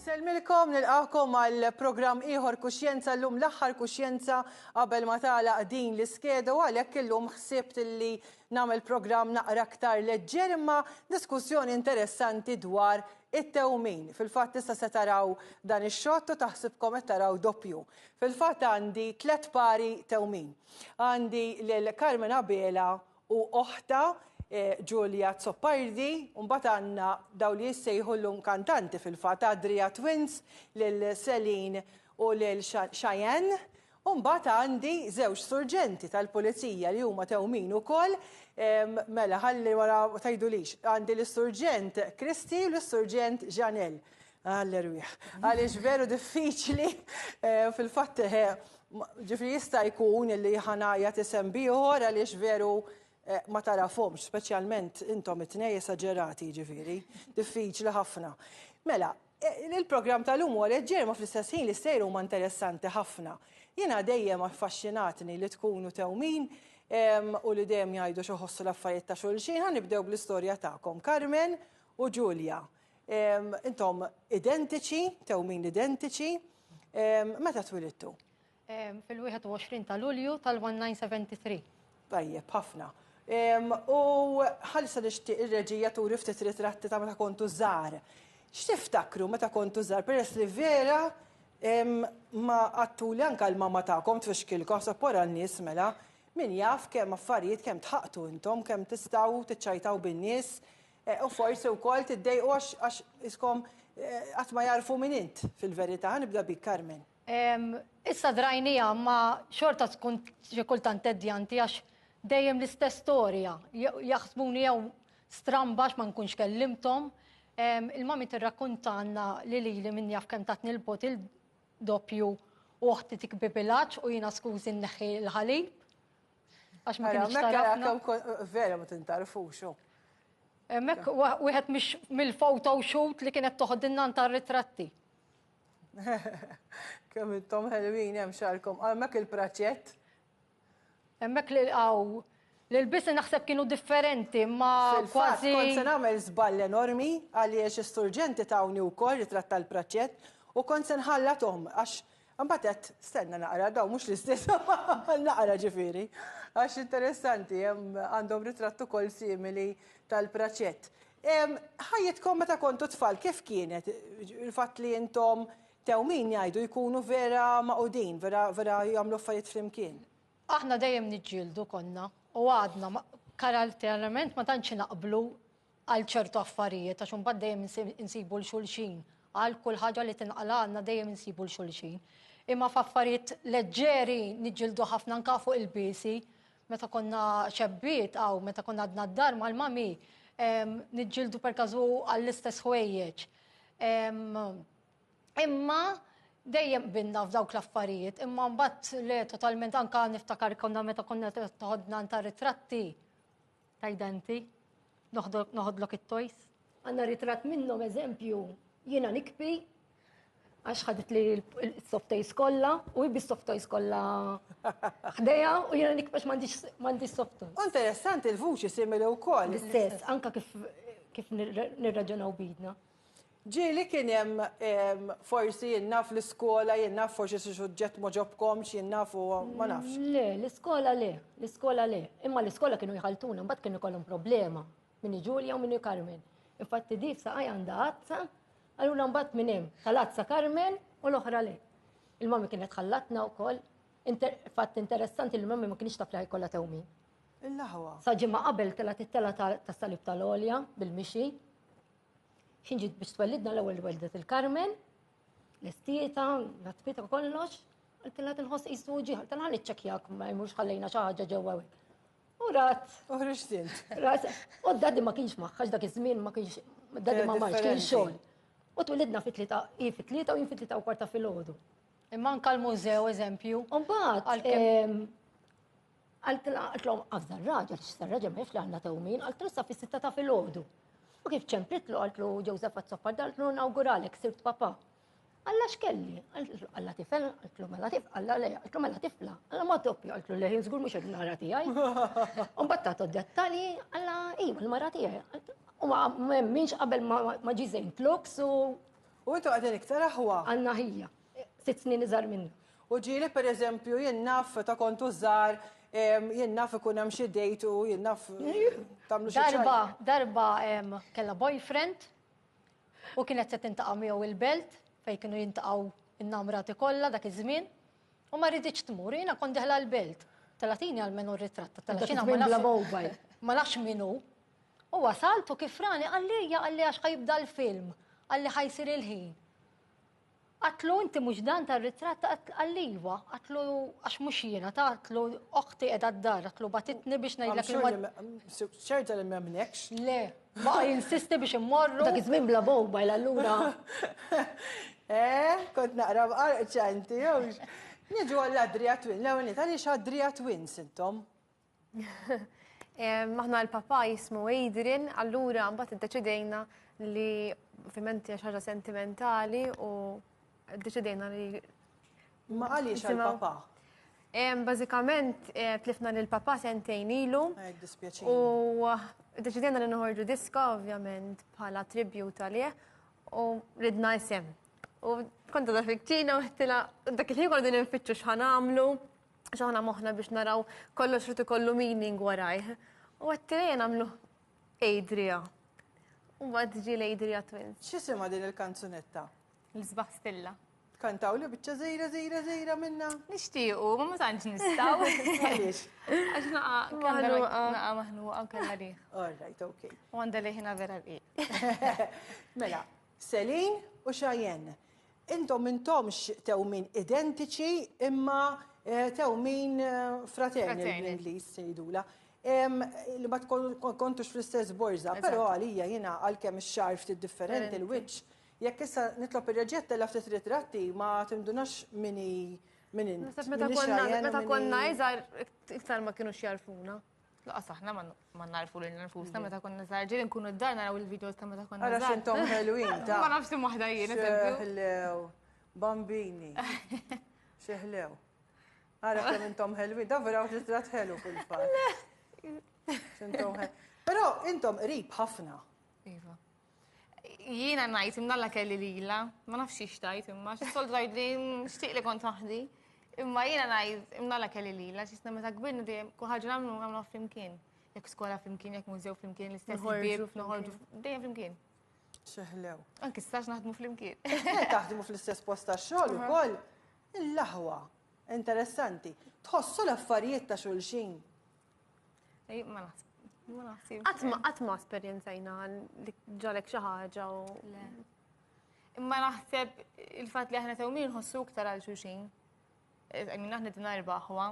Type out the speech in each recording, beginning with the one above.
Nselmilkom nilqakom għal programm ieħor kuxjenza llum l-aħħar kuxjenza qabel ma tagħlaq din l-iskeda u għalhekk illum ħsibt illi nagħmel programm naqra aktar leġġer imma diskussjoni interessanti dwar It-tewmin. Fil-fatt issa se taraw dan ix-xott u taħsibkom qed taraw doppju. Fil-fatt għandi tliet pari tewmin. Għandi lil Carmen Abela u oħtha Julia Zoppardi u mbagħad għandna dawn li jissejħu llum kantanti fil-fatt, Adria Twins, lil Celine u lil Cheyenne U mbagħad għandi żewġ surġenti tal-pulizija li huma tewmin ukoll, mela ħalli wara ma tgħidulix, għandi lis-Surġent Christie u lis-Surġent Jeanel. Għall-erwieħ. Għaliex veru diffiċli eh, fil-fatt eh, ġifri jista' jkun li ħanajja tisem bieħor għaliex veru eh, ma tarafhomx, speċjalment intom it-tnej esaġerati ġifiri, diffiċli ħafna. Mela, Il-programm tal-lum huwa leġġer ma fl-istess ħin li sejr huma interessanti ħafna. Jiena dejjem affaxxinatni li tkunu tewmin u li dejjem jgħidu xoħossu l-affarijiet ta' xulxin. Ħa nibdew bl-istorja tagħkom, Carmen u Julia. Intom identiċi, tewmin identiċi. Meta twilidtu? Fil-21 ta' Lulju tal-1973. Tajjeb, ħafna. U ħalsa nixtieq ir-reġija turi ftit ritratti ta' meta kontu żgħar. X'tiftakru meta kontu żgħar peress li vera ma qattuli anke l-mama tagħkom tfixkilkom sa wara n-nies mela. Min jaf kemm affarijiet kemm tħaqtu intom, kemm tistgħu tiċċajtaw bin-nies u forsi wkoll tiddejqu għax iskom qatt ma jagħrfu min int fil-verità. Ħa nibda bik, Carmen. Issa drajnija ma xorta tkun xi kultant teddjanti għax dejjem l-istess storja. Jaħsbuni jew stramba ma nkunx kellimtom. Il-mami tirrakkuntanna li lili minn jaf kemm tatni l-bot il-doppju u oħti tikbi bilaċ u jiena skużi nneħħi l-ħalib. Għax ma kienx tarafna. Vera ma tintarfux. Mek wieħed mill-photo shoot li kienet toħodilna ntar ritratti. Kemm intom ħelwin hemm xarkom. Hemmhekk il-praċett. Hemmhekk li lqgħu l-ilbisi naħseb kienu differenti ma kważi. Kont se nagħmel żball enormi għaliex is-surġenti tawni wkoll ritratt tal-praċett u kont se nħallathom għax imbagħad għedt stenna naqra dawn mhux l-istess naqra ġifieri. Għax interessanti hemm għandhom ritratt ukoll simili tal-praċett. Ħajjitkom meta kontu tfal kif kienet? Il-fatt li intom tewmin jgħidu jkunu vera maqudin, vera vera jagħmlu affarijiet flimkien. Aħna dejjem niġġieldu konna u għadna karatterament ma tantx naqblu għal ċertu affarijiet għax imbagħad dejjem insibu 'l xulxin. Għal kull ħaġa li tinqalagħna dejjem insibu 'l xulxin. Imma f'affarijiet leġġeri niġġieldu ħafna anke fuq il-biesi. meta konna xebbiet għaw, meta konna għadna d-dar mal-mami, nġildu per kazu għall-istess ħwejjeġ. Imma dejjem binna f'dawk l-affarijiet, imma mbagħad le totalment anka niftakar konna meta konna toħodna ta' ritratti. Tgħidha inti? Noħodlok it-tojs? Għandna ritratt minnhom eżempju jiena nikpi għax ħadet li l-softojs kollha u jibbi softojs kollha ħdejha u jiena nikpax m'għandix softojs. Interessanti l-vuċi simili wkoll. L-istess, anka kif nirraġunaw bidna. Ġieli kien hemm forsi jien naf l-iskola, jien naf forsi xi suġġett ma ġobkomx, jien naf u ma nafx. Le, l-iskola le, l-iskola le. Imma l-iskola kienu jħaltuna, mbagħad kienu jkollhom problema minni Ġulja u minni Carmen. Infatti di f'saqaj għandha azza, allura mbagħad minn hemm tal-azza Carmen u l-oħra le. Il-mami kienet ħallatna wkoll. Fatt interessanti li mami ma kienx taf li ħajkollha tewmin. Il-laħwa. Sa ġimgħa qabel telgħet it-telgħa tas-salib tal-għolja bil-mixi. Xin ġiet biex twellidna l-ewwel weldet il-Karmen, l-istieta, l-atfita kollox, għaltilha tinħoss qisu ġieħ, għaltilha niċċekjak ma jmux ħallejna xi ħaġa ġewwa hekk. U rat. U ħriġtilt. Rat. U d-dadi ma kienx maħħax dak iż-żmien ma kienx d-dadi ma marx kien xogħol. U twilidna fit-tlieta, hi fit-tlieta u jien fit-tlieta u kwarta fil-ħodu. Imma anka l-mużew eżempju. Mbagħad. Ehm, Għaltlhom għafda r-raġel x'sar raġel ma jafx li għandna tewmin, għaltlu sa fis-sitta ta' filgħodu. U kif ċempritlu għaltlu Ġewżef għat-soppa daltlu nawguralek sirt papa. Alla x'kelli? Għaltlu alla tifel, għaltlu mela tifel, alla le, għaltlu mela tifla, alla ma doppju, għaltlu le żgur mhux il-mara tiegħi. U mbagħad tagħtu dettalji alla iva l-mara tiegħi. U ma m'hemmx qabel ma ġi żejn tluks u U intu għadin iktar aħwa. Għanna ħija. sitt snin iżgħar minni. U ġieli per eżempju jien naf ta' kontu żgħar jien naf ikun hemm xi dejt u jien naf tagħmlu xi Darba, darba kellha boyfriend u kienet se tintaqa' miegħu il-belt fejn kienu jintaqgħu in-namrati kollha dak iż-żmien u ma riditx tmur jiena kont deħla l-belt. Talatini għal menu r-ritratt ta' Talatini ma nafx minnu. U wasaltu kif rani għalli għalli għax ħajibda l-film għalli ħajsir il-ħin. Għatlu inti mhux dan tar-ritratt għalliwa, għatlu għax mhux jiena ta' għatlu oħti qiegħda d-dar, għatlu batitni biex ngħidlek. Ċerta li m'hemmlekx? Le, ma jinsisti biex immorru. Dak iż-żmien bla mobile allura. Eh, kont naqra b'qarqċa inti, jew. Niġu għall-Adria Twin, l-ewwel nit għaliex Adria Twins intom? Maħna l-papa jismu Adrian, allura mbagħad iddeċidejna li ovvjament hija ħaġa sentimentali u ddeċidejna li Ma għaliex għal-papa? Bażikament eh, tlifna lil papa sentejn ilu. U deċidejna li noħorġu diska ovvjament bħala tribut għalih u ridna isem. U konta da fikċina u għettila dak il-ħin għordu ninfittxu xħan għamlu. Xaħna moħna biex naraw kollox rrit ikollu meaning warajh. U għattilejn għamlu Adria. U għad ġi l-Adria Twins. Xisima din il-kanzunetta? L-sbaħ stilla. Kantaw li bieċa zejra, zejra, zejra minna. Nishtiqu, ma ma tanċ nistaw. Għalix. Għax naqa, kallu naqa maħnu għaw kalla riħ. All right, ok. U għanda liħina vera riħ. Mela, Céline u Cheyenne, intom m'intomx tewmin identiċi imma tewmin fraternal bl-Ingliż jgħidulha. Li ma tkontux fl-istess borża, però għalija jiena għalkemm ix-xagħar ftit differenti, il-wiċċ, jekk issa nitlob ir-Reġija ttella' ftit ritratti ma tindunax min hi min int. Naħseb meta konna iżgħar iktar ma kinux jagħrfuna. Laqas aħna ma narfu li nfusna meta konna zaħġi li nkunu d-dar naraw il-videos ta' meta konna zaħġi. Għara xintom ħelwin ta' Ma nafx tim wahda jien. Xeħlew, bambini, xeħlew. Għara kem intom ħelwin, da vera uġi zrat ħelu fil-fat. Xintom ħelwin. Pero intom rib ħafna. Iva. Jiena ngħid imdalla kelli lila, ma nafx xi xtajt imma xi sol tgħid li nixtieq li kont waħdi. Imma jiena ngħid imdalla kelli lila, x'isna meta kbirna dejjem kull ħaġa nagħmlu nagħmlu flimkien. Jekk skola flimkien, jekk mużew flimkien, l-istess bieb, noħorġu dejjem flimkien. Xeħlew. Anki stax naħdmu flimkien. Taħdmu fl-istess post ta' xogħol ukoll. Il-laħwa. Interessanti. Tħossu l-affarijiet ta' xulxin. Ma naħsib. Qatt ma esperjenzajna li ġalek xi ħaġa u. Imma naħseb il-fatt li aħna tewmin nħossu iktar għal xuxin. Għamina aħna din arbaħwa.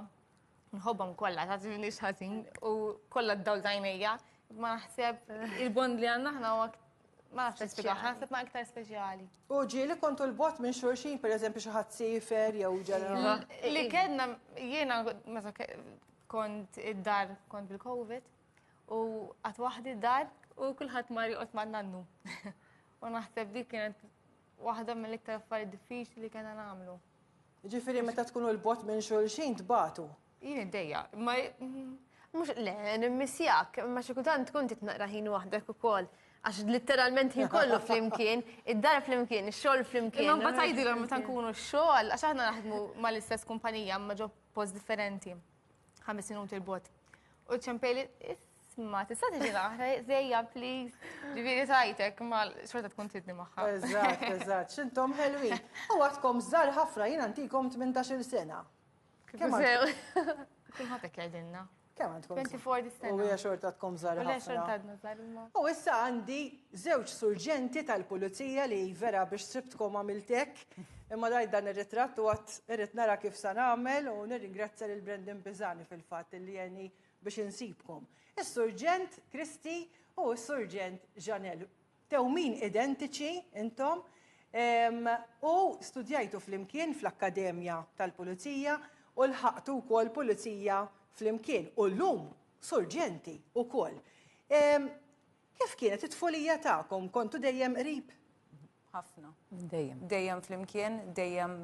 Nħobbhom kollha ta' ġivni xħażin u kollha d-dawl tajnejja. Ma naħseb il-bond li għandna aħna u ma naħseb spiega, naħseb ma iktar speċjali. U ġieli kontu l-bot minn xurxin, per eżempju, xi ħadd sifer jew ġara. Li kellna jiena Kont id-dar, kont bil-Covid, u għat wahdi id-dar u kullħat mar joqgħod ma' nannu. U naħseb dik kienet waħda mill-iktar affarijiet diffiċli li kena nagħmlu. Ġifieri meta tkunu l-bot minn xulxin tbatu. Jien id-dejja, ma mhux le nimmissjak, ma xi kultant tkun titnaqra ħin waħdek ukoll għax literalment ħin kollu flimkien, id-dar flimkien, ix-xogħol flimkien. Imma mbagħad tgħidilhom meta nkunu x-xogħol għax aħna naħdmu mal-istess kumpanija ma ġo post differenti, ħames minuti l-bot. U ċempeli, isma, tista' tiġi naħra, zejja, please. Ġifieri tajtek, ma xorta tkun tidni magħha. Eżatt, eżatt, xintom ħelwi. U għadkom żgħar ħafna jien antikom 18-il sena. Kemm sew. Kulħadd hekk jgħidilna. Kemm għandkom? 24 dis-sena. U hija xorta tkom żgħar ħafna. U xorta għadna żgħar imma. U issa għandi żewġ surġenti tal-pulizija li vera biex sibtkom għamiltek. Imma dajt dan ir-ritratt u għat irrid nara kif sa nagħmel u nirringrazzja lil Brendan Bizani fil-fatt li jeni biex insibkom. Is-surġent Kristi u s-surġent Janel. Tewmin identiċi intom u studjajtu flimkien fl-Akkademja tal-Pulizija u lħaqtu wkoll Pulizija flimkien u llum Surġenti wkoll. Kif kienet it-tfulija tagħkom? Kontu dejjem qrib? Ħafna. Dejjem. Dejjem flimkien, dejjem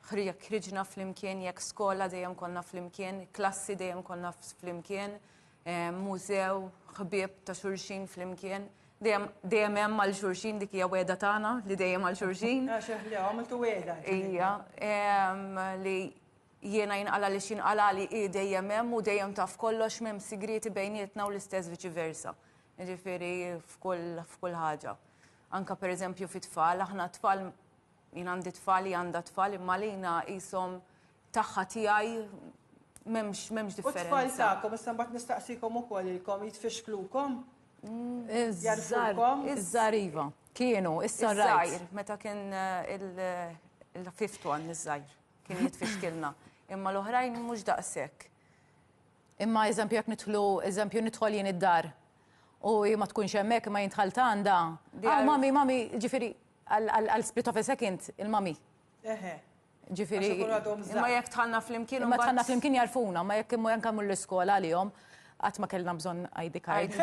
Ħri jekk ħriġna flimkien, jekk skola dejjem konna flimkien, klassi dejjem konna flimkien, eh, mużew, ħbieb ta' xurxin flimkien. Dejjem dejjem hemm għal xurxin dik hija weda tagħna li dejjem għal xurxin. Għax eħli għamiltu weda. Ija, em, li jiena jinqala li xinqala li i dejjem hemm u dejjem taf kollox m'hemm sigrieti bejnietna u l-istess viċi versa. Ġifieri f'kull f'kull ħaġa. Anka pereżempju fit-tfal, aħna t-tfal Jien għandi tfal, hija għandha tfal, imma għalina qishom tagħha tiegħi m'hemmx m'hemmx U differenza. tfal tagħkom, issa mbagħad nistaqsikom ukoll ilkom jitfixklukom? Iż-żar, Jarfukom? iż-żar iva. Kienu, issa rajt. Iż-żgħir, meta kien eh, il- il-fifth one, iż-żgħir, kien jitfixkilna. Imma l-oħrajn mhux daqshekk. Imma eżempju jekk nidħlu, eżempju nidħol jien id-dar u hi ma tkunx hemmhekk imma jien dħalt għandha. Aw mami, mami, ġifieri għal split of a second il-mami. Eħe. Ġifieri. Imma jekk tħallna flimkien. Imma tħallna flimkien jarfuna, ma jekk imma janka mull iskola għalihom għat ma kellna bżon ID card.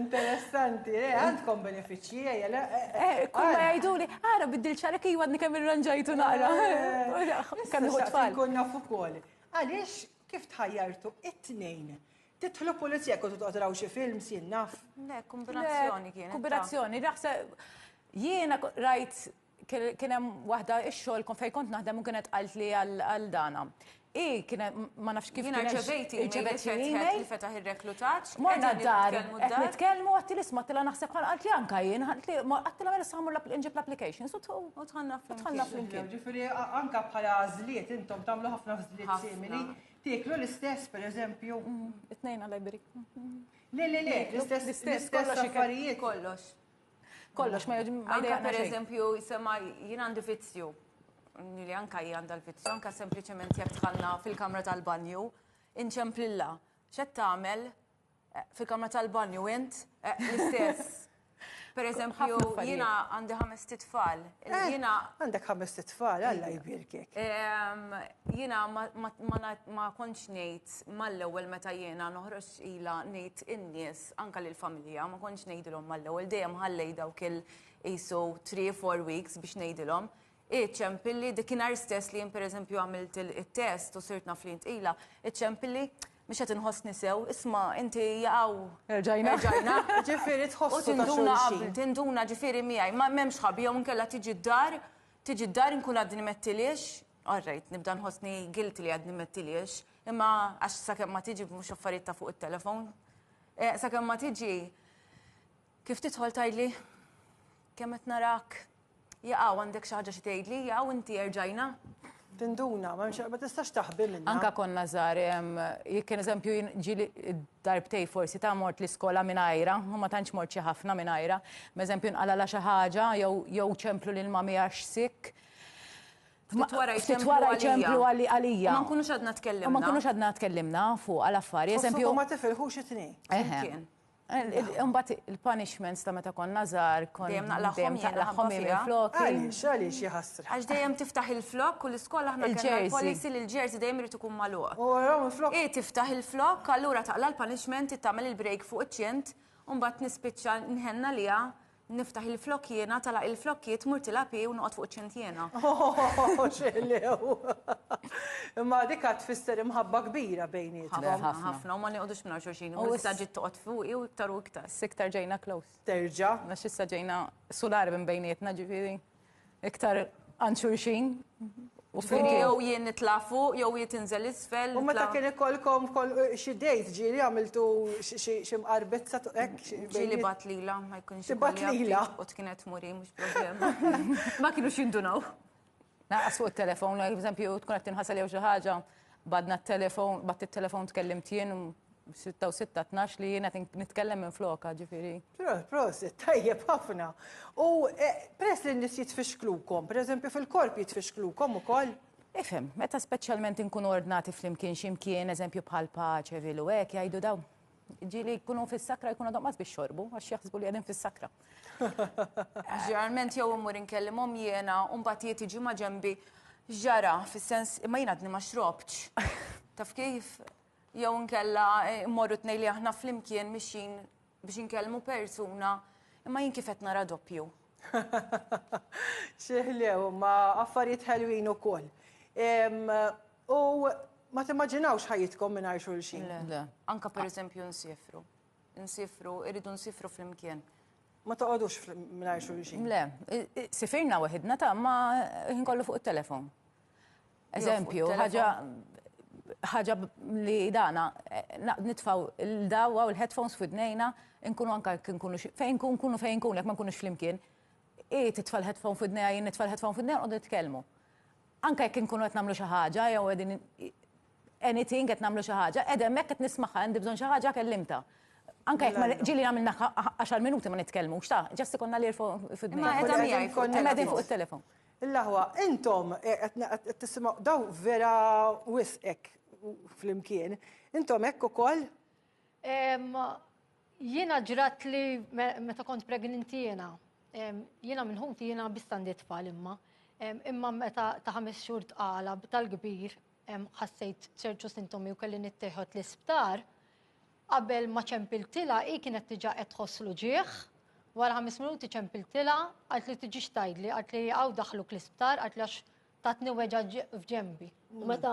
Interessanti, eh, għandkom benefiċi. Kull ma jgħiduli, ara biddil xarek iwa għadni kemm irranġajtu naqra. Kemm iħu tfal. Kun nafu kol. Għaliex kif tħajjartu it-tnejn? Titħlu pulizija kontu toqtraw xi film sin naf. Kombinazzjoni kien. Kombinazzjoni, raħsa jiena rajt Kien hemm waħda x-xogħol kon fejn kont naħdem u kienet qaltli għal dana. I kien ma nafx kif Jiena rċevejt irċevejt email li fetaħ ir-reklutaġġ. Morna d-dar, qed nitkellmu għatti l-isma tila naħseb bħal qaltli anka jien, għattila mela samur nġib l-applications u tħanna flimkien. Ġifieri anka bħala għażliet intom tagħmlu ħafna għażliet simili. Tieklu l-istess, per eżempju. It-tnejn għal-lajberi. Le, le, le, l-istess affarijiet. Kollox. Kollox, ma jgħidx. Anka per eżempju, jisema jien għandi vizzju. Li anka jien għandha l-vizzju, anka sempliċement jekk tħalla fil-kamra tal-banju, inċemplilla. Xed tagħmel eh, fil-kamra tal-banju int eh, l-istess. Per eżempju, jina għandi ħames titfal. Eh, jina. Għandek ħames titfal, għalla jibirkek. Jina ma konċ nejt mal-ewel meta jina noħroġ ila nejt in-nies anka lil familja, ma kontx ngħidilhom mal-ewwel dejjem ħallej dawk il isu 3-4 weeks biex ngħidilhom. Iċempilli dikinhar stess li jien pereżempju għamilt it-test u sirt naf li ntqila, iċempilli mhux qed inħossni sew, isma' inti jaqgħu. Erġajna. Erġajna. Ġifieri tħossu. U tinduna qabel, tinduna ġifieri miegħi, ma m'hemmx ħabi jew inkella tiġi d-dar, tiġi d-dar inkun għadni mettiliex, all right, nibda nħossni guilty li għadni mettiliex. Imma għax sakemm ma tiġi mhux affarijiet ta' fuq it-telefon. Eh, sakemm ma tiġi kif tidħol tgħidli kemm qed narak jaqgħu għandek xi ħaġa xi tgħidli, jaqgħu inti erġajna tinduna, ma mxie, ma tistax taħbi minna. Anka konna zar, jek kien eżempju ġili darbtej forsi ta' mort l-iskola minn ajra, u ma tantx mort xi ħafna minn ajra, ma eżempju nqala la xi ħaġa jew ċemplu lil mami għax sik. Ftit wara jċemplu għalija. Ftit wara jċemplu għalija. U ma nkunux għadna tkellimna. U ma nkunux għadna tkellimna fuq għal affari. Eżempju. U ma tifilħux it-tnejn. Eħen. Umbat il-punishments ta' meta konna zar, konna. Dejjem naqlaħħom naqlaħħom il-flok. Għalix, għalix jħassra. Għax dejjem tiftaħ il-flok u l-iskola ħna il-policy li l-ġerzi dejjem rritu kum maluq. U għaraw il-flok. I tiftaħ il-flok, allura taqla l-punishment, tagħmel il-break fuq iċ-ċint, umbat nispiċċa nħenna liha Niftaħ il-flokk jiena, talaq il-flokk jiet, mur tilapi u noqgħod fuq ċintjena. Xelew! Imma dik għad tfisser imħabba kbira bejnietkom. Ħafna, ħafna, u ma nieqgħodux minn xulxin. U issa ġiet toqgħod fuqi u iktar u iktar. Siktar ġejna close. Terġa'. Għax issa ġejna sular minn bejnietna ġifieri. Iktar għand xulxin. Ġifieri jew jien nitla' fuq jew hi tinżel isfel. U meta kien ikollkom xi dejt ġieli għamiltu xi mqarbizza hekk? Ġieli bgħat lilha ma jkunx. Tibgħat lilha. U kienet tmur hi mhux problema. Ma kinux jindunaw. Lanqas fuq it-telefon, pereżempju tkun qed tinħasel jew xi ħaġa. Badna t-telefon, bat it-telefon tkellimt jien 6 u 6 12 li jien qed nitkellem minn floka ġifieri. Prosit, tajjeb ħafna. U eh, peress li n-nies jitfixklukom, pereżempju fil-korp jitfixklukom ukoll? Ifhem, meta speċjalment inkunu ordnati flimkien x'imkien, eżempju bħal paċe, vilu hekk jgħidu dawn Ġili jkunu fis-sakra jkunu għadhom qas biex xorbu, għax jaħsbu li għadin fis-sakra. Ġeneralment jew immur inkellimhom jiena u mbagħad jiet iġi ma' ġembi ġara fis-sens imma jien għadni ma xrobtx. Taf kif? Jew nkella eh, mmorru tnej li aħna flimkien mixin biex inkellmu persuna imma jien kif qed nara doppju. Xieħlew, ma affarijiet ħelwin u koll. U ma timmaġinawx ħajjitkom mingħajr xulxin. Le, anka pereżempju nsifru. Nsifru, irridu nsifru flimkien. Ma toqgħodux mingħajr xulxin. Le, sifirna waħidna ta' ma ħin kollu fuq it-telefon. Eżempju, ħaġa ħaġa li dana nitfaw il-dawa u l-headphones fidnejna, nkunu anka nkunu fejn kun kunu fejn kun, jekk ma nkunux flimkien, i titfa' l-headphone fidnejja, jien nitfa' l-headphone fidnejja, nqogħdu nitkellmu. Anke jekk inkunu qed nagħmlu xi ħaġa jew qegħdin anything qed nagħmlu xi ħaġa, qiegħda hemmhekk qed nismagħha, għandi bżonn xi ħaġa kellimtha. Anke jekk ma ġieli għamilna għaxar minuti ma nitkellmux, ta' ġast ikollna l-earphone f'idnejna. Ma qiegħda miegħi fuq il-telefon. Qegħdin fuq it-telefon. L-aħwa, intom qed tisimgħu daw vera wisq hekk flimkien. Intom hekk ukoll? Jiena ġrat li meta kont pregninti jiena, jiena minn ħuti jiena bistandi tfal imma. Imma meta ta' ħames xhur tqala tal-kbir ħassejt ċertu sintomi u kelli nittieħod l-isptar, qabel ma ċempiltilha hi kienet diġà qed tħoss l-uġigħ, wara ħames minuti ċempiltilha, qalt li tiġix tgħidli, qalt li hawn daħħluk l-isptar, qalt li għax tatni weġgħa f'ġenbi. U meta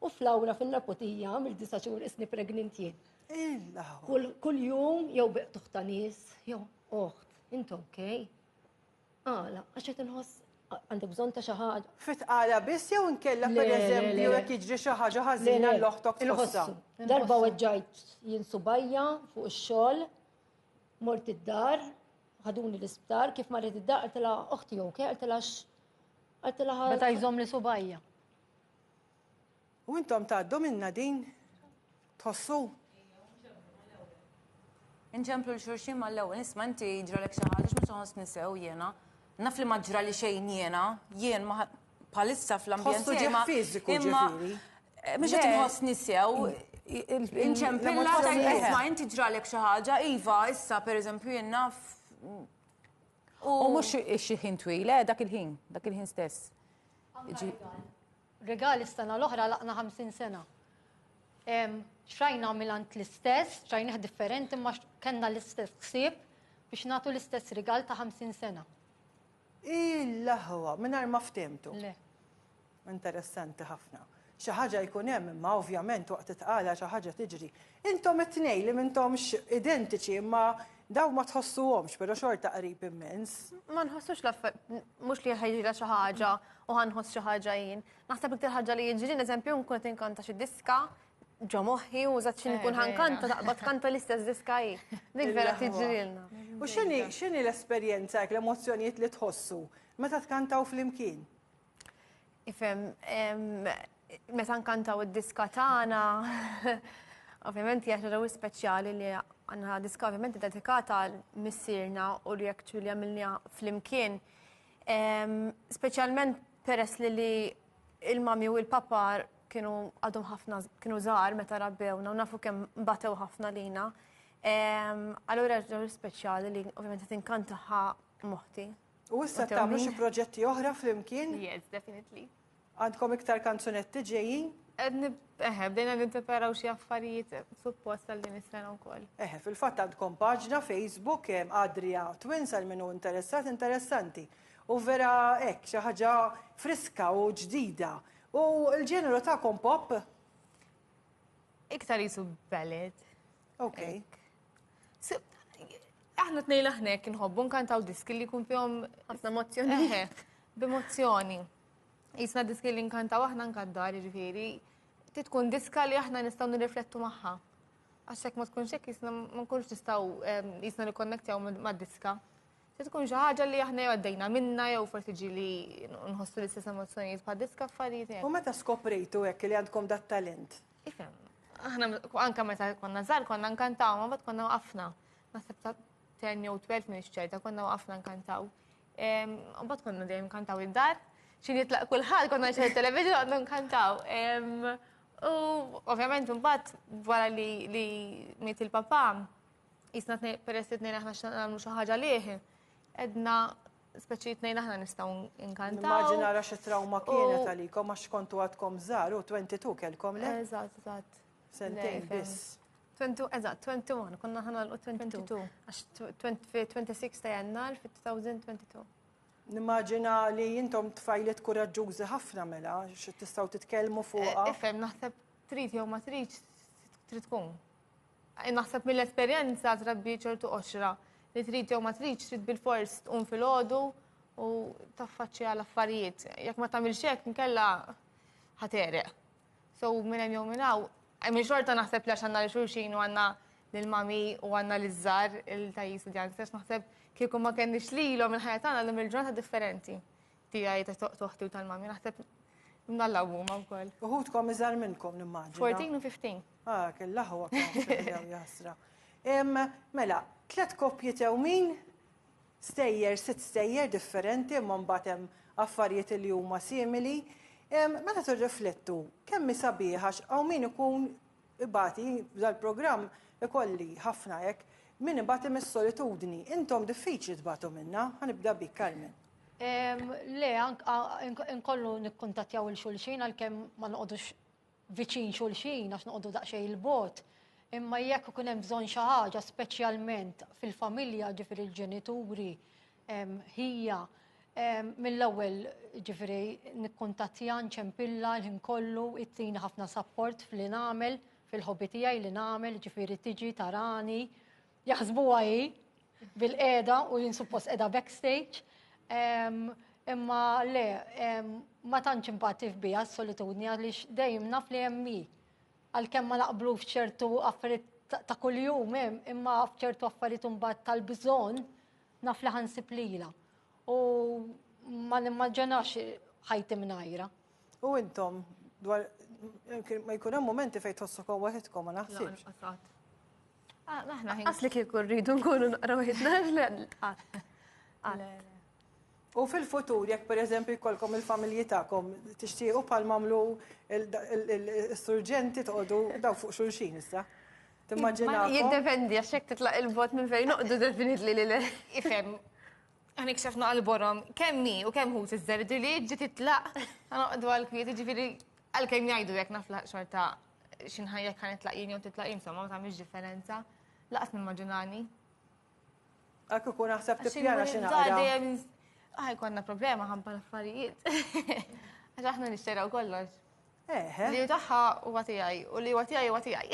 U flawra fin-naputija għamil disa xhur isni pregnint jien. Kull jum jew biq tuħta nies, jew oħt, int ok. Għala, għax qed inħoss għandek bżonn ta' xi ħaġa. Fit għala biss jew inkella pereżempju jekk jiġri xi ħaġa ħażina l-oħtok tħossha. Darba weġġajt jien subajja fuq ix-xogħol, mort id-dar, ħaduni l-isptar, kif marret id-dar għaltilha oħti ok, għaltilha għaltilha. Meta jżomm li subajja. U intom tgħaddu minnha din? Tħossu? Inċemplu l xurxin ma l-ewwel, nisma inti ġralek xi ħaġa x'mhux nħoss nisew jiena. Naf li ma ġrali xejn jiena, jien ma palissa fl-ambjent tiegħi. fiżiku ġifieri. Eh, mhux qed inħoss nisew. Inċempilla ta' nisma inti ġralek xi ħaġa, iva, issa pereżempju jien naf. U mhux xi ħin twil, eh, dak il-ħin, dak il-ħin stess. Rigali s-sena l-oħra laqna 50 sena. Xrajna milant l-istess, xrajnieh differenti imma kellna l-istess ksib biex nagħtu l-istess rigal ta' 50 sena. Il-laħwa, mingħajr ma ftemtu. Le. Interessanti ħafna. Xi ħaġa jkun hemm imma ovvjament waqt it-tqala xi ħaġa tiġri. Intom it-tnejn li m'intomx identiċi imma dawn ma tħossuhomx però xorta qrib immens. Ma nħossux l-affer, mhux li ħa jiġrilha xi ħaġa u ħa nħoss xi ħaġa jien. Naħseb iktar ħaġa li jiġrilna eżempju nkun qed inkanta xi diska ġo moħħi u żgħat xi nkun ħa nkanta taqbad kanta l-istess diska hi. Dik vera tiġrilna. U x'inhi x'inhi l-esperjenza hekk l-emozzjonijiet li tħossu meta tkantaw flimkien? Ifem, meta nkantaw id-diska tagħna, ovvjament hija xi ġew speċjali li għandna diska ovvjament dedikata għal missierna u li jekk li għamilna flimkien. Speċjalment peress li li il-mami u il-papa kienu għadhom ħafna kienu żgħar meta rabbewna u nafu kemm batew ħafna lina. Allura ġew speċjali li ovvjament tinkantaħħa moħti. U issa tagħmlu xi proġetti oħra flimkien? Yes, definitely. Għandkom iktar kanzunetti ġejjin? Eħe, bdejna ninteperaw xi affarijiet suppost għal din is-sena wkoll. Eħe, fil-fatt għandkom paġna Facebook hemm Adria Twins għal min hu interessat interessanti. U vera hekk xi ħaġa friska u ġdida. U l-ġeneru tagħkom pop? Iktar jisu ballet. Okay. Aħna tnejn aħna jekk inħobbu nkantaw diski li jkun fihom ħafna emozzjoni. B'emozzjoni. Jisna diski li nkantaw aħna nkaddar, ġifieri, titkun diska li aħna nistgħu nirriflettu magħha. Għax hekk ma tkunx hekk jisna ma nkunx nistgħu ehm, jisna nikkonnektjaw mad-diska. Se tkun xi ħaġa li aħna għaddejna minna jew forsi ġili nħossu l-istess emozzjonijiet bħad diska affarijiet. U meta skoprejtu hekk li għandkom dat talent? Ifem, aħna anka meta konna żgħar konna nkantaw, ma bad konna waqafna. Naħseb ta' 10 jew 12 minn ċerta konna waqafna nkantaw. U bad konna dejjem nkantaw id-dar, xi jitlaq kulħadd konna nxejn television għandu nkantaw. U ovvjament imbagħad wara li miet il-papà, jisna peress li tnejn aħna x'nagħmlu xi ħaġa lih, edna speċi jitnejn aħna nistaw inkantaw. Immaġin għara xie trauma kienet għalikom, għax kontu għadkom zar, u 22 kelkom le? Eżat, eżat. Sentejn bis. 22, eżat, 21, konna ħana l-22. Għax 26 ta' jannar fit-2022. Nimmaġina li jintom tfajlet kuraġġużi ħafna mela, xie tistaw titkelmu fuqa. Eh, Ifem, naħseb trid jew ma trid trid tkun. Naħseb mill-esperjenza trabbi ċertu qoxra li trid jew ma tridx trid bil-fors tqum fil-ħodu u taffaċċja l-affarijiet. Jekk ma tagħmilx hekk nkella ħatereq. So minn hemm jew minn hawn, hemm xorta naħseb li għax għandna li xulxin u għandna lil mami u għandna li żgħar il-tajjis u djanks, għax naħseb kieku ma kenniex lilhom il-ħajja tagħna llum il-ġurnata differenti. Tijaj, ta' toħti u tal-mami, naħseb mdalla u ma' wkoll. Uħutkom iżar minnkom nimmaġin. 14 u 15. Ah, kella ħu għakam jasra. Mela, tlet koppji tewmin, stejjer, sit stejjer differenti, ma' mbatem affarijiet li huma simili. Meta tirriflettu, kemmi sabiħax għaw min ikun ibati dal-programm ikolli ħafna hekk min ibati mis-solitudni. Intom diffiċli tbatu minna, ħanibda bik Carmen. Le, inkollu nikkuntattjaw il-xulxin għalkemm ma noqogħdux viċin xulxin għax noqogħdu daqsxejn il-bot. Imma jekk ikun hemm bżonn xi ħaġa speċjalment fil-familja ġifir il-ġenituri ħija mill-ewwel ġifiri nikkuntattja nċempilla l-ħin kollu ittini ħafna sapport f'li nagħmel fil-ħobi tiegħi li nagħmel ġifiri tiġi tarani Jaħsbuha hi bil-qiegħda u jien suppost qiegħda backstage. Imma le, ma tantx impattif biha s-solitudni għaliex dejjem naf li hemm hi. Għalkemm ma naqblu f'ċertu affarijiet ta' kuljum hemm, imma f'ċertu affarijiet imbagħad tal-bżonn naf li ħansib lilha. U ma nimmaġinax ħajti mingħajra. U intom dwar ma jkun hemm momenti fejn tħossukom waħedkom ma naħsibx. Ah, aħna ħin. Asli kieku rridu nkunu naqraw ħidna U fil-futur, jekk per eżempju jkollkom il-familji tagħkom tixtiequ bħal mamlu il-surġenti toqgħodu daw fuq xulxin issa. Timmaġina. Jiddependi għax hekk titlaq il-bot minn fejn noqdu definitli li le. Ifhem. Għanik xafna għal-borom, kemmi u kemm hu tiżżerdi li ġi titlaq, għanoqdu għal-kwiet, ġifiri għal-kem jgħidu jek naflaq xorta xin ħajja kan itlaq jien jew titlaq jien, insomma, ma tagħmilx differenza. Laqas nimmaġinani. Għakku kun naħseb tippjana xi naqra. Ah, konna problema ħabba l-affarijiet. Għax aħna nixteraw kollox. Li taħħa u għatijaj, u li għatijaj u għatijaj.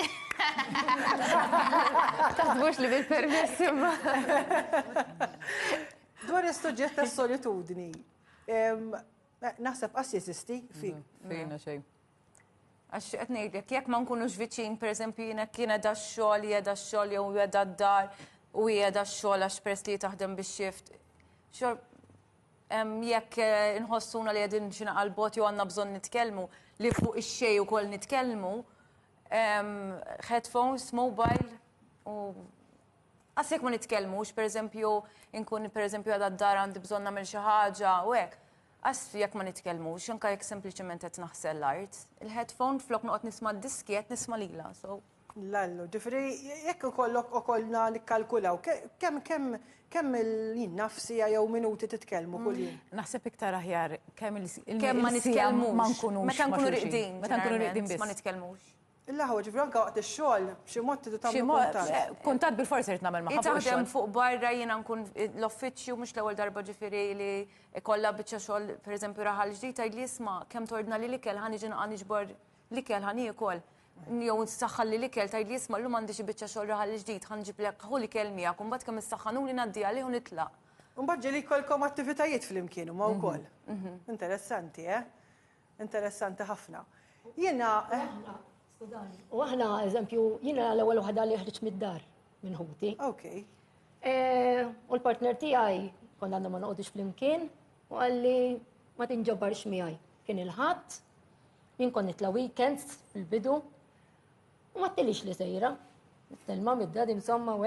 Taħbux li bil-permess imma. Dwar il-sujġet ta' solitudni, naħseb qas jesisti fi. Fejna xej. Għax qed ngħidlek, jekk ma nkunux viċin, pereżempju jiena kien edha x-xogħol, jeda x-xogħol jew jeda d-dar u jeda x-xogħol għax press li taħdem biex xift. Jekk eh, nħossuna li qegħdin xi naqal bot jew għandna bżonn nitkellmu li fuq ix-xej ukoll nitkellmu, headphones, mobile u għasek ma nitkellmux, pereżempju nkun pereżempju għadha d-dar għandi bżonn nagħmel xi ħaġa u hekk Asf jekk ma nitkellmux, anke jekk sempliċement qed naħsel l-art. Il-headphone flok noqgħod nisma' d-diski qed nisma' lilha, so. L-allu, ġifieri jekk ikollok okolna nikkalkulaw kemm kemm kemm il-jien naf siegħa jew minuti titkellmu kuljum? Naħseb iktar aħjar kemm il-siegħa ma nitkellmux. Kemm ma nitkellmux. Meta nkunu riqdin. Meta nkunu riqdin biss. Ma nitkellmux. Il-laħwa, ġifri anka waqt ix-xogħol, b'xi mod tidu tagħmlu kuntatt. Eh, kuntatt bil-forsi rrid nagħmel magħha. Taħdem fuq barra jiena nkun l-offiċċju mhux l-ewwel darba ġifieri li kollha biċċa xogħol pereżempju raħal ġdid tgħidli isma' kemm tordna li l-ikel ħa niġi naqgħa niġbor l-ikel ħa niekol. Jew nsaħħal li l-ikel tgħidli isma' llum għandi xi biċċa xogħol raħal ġdid ħa nġiblek ħu l-ikel miegħek u mbagħad kemm issaħħanuli ngħaddi għalih u nitlaq. Mbagħad ġieli jkollkom attivitajiet flimkien huma wkoll. Mhm, mhm. Interessanti, eh? Interessanti ħafna. Jiena. Skużani. U aħna, eżempju, jiena l-ewwel waħda li ħriġt mid-dar minn ħuti. Ok. E, u l-partner tiegħi konna għandna ma noqgħodux flimkien u għalli ma tinġabarx miegħi. Kien il-ħadd, jien kon nitla weekends fil-bidu u ma t-tilix li sejra. Telma mid-dad insomma u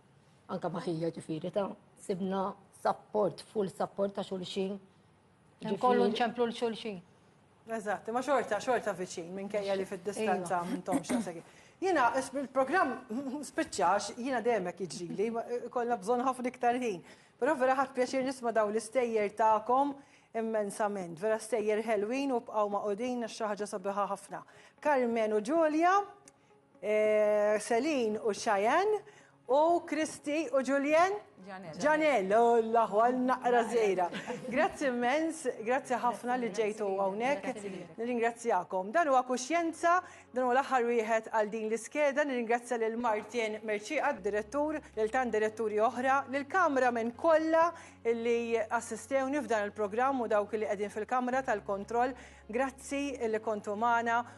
anka ma' ħija ġifiri ta' sibna support, full support ta' xulxin. Kollu nċemplu l-xulxin. Eżatt, ma xorta, xorta viċin, minn kajja li fil-distanza iva. minn tomx għasegi. Jina, il-program spiċċax, jina demek iġili, kolla bżon ħafna iktar ħin. Pero vera ħat pjaċir nisma daw l-istejjer ta'kom immensament. Vera stejjer ħelwin u bqaw ma' odin xaħġa sabiħa ħafna. Carmen u Ġulja, Celine u Cheyenne u Kristi u Julien Janel, u l-aħwa naqra zejra. Grazzi immens, grazzi ħafna li ġejtu għawnek, nirringrazzjakom. Dan huwa kuxjenza, dan huwa l-aħħar wieħed għal din l-iskeda, nirringrazzja lil Martin Merċiqa, direttur, lil tan diretturi oħra, lil kamra minn kollha li assistewni f'dan il-programm u dawk li qegħdin fil-kamra tal-kontroll, grazzi li kontu magħna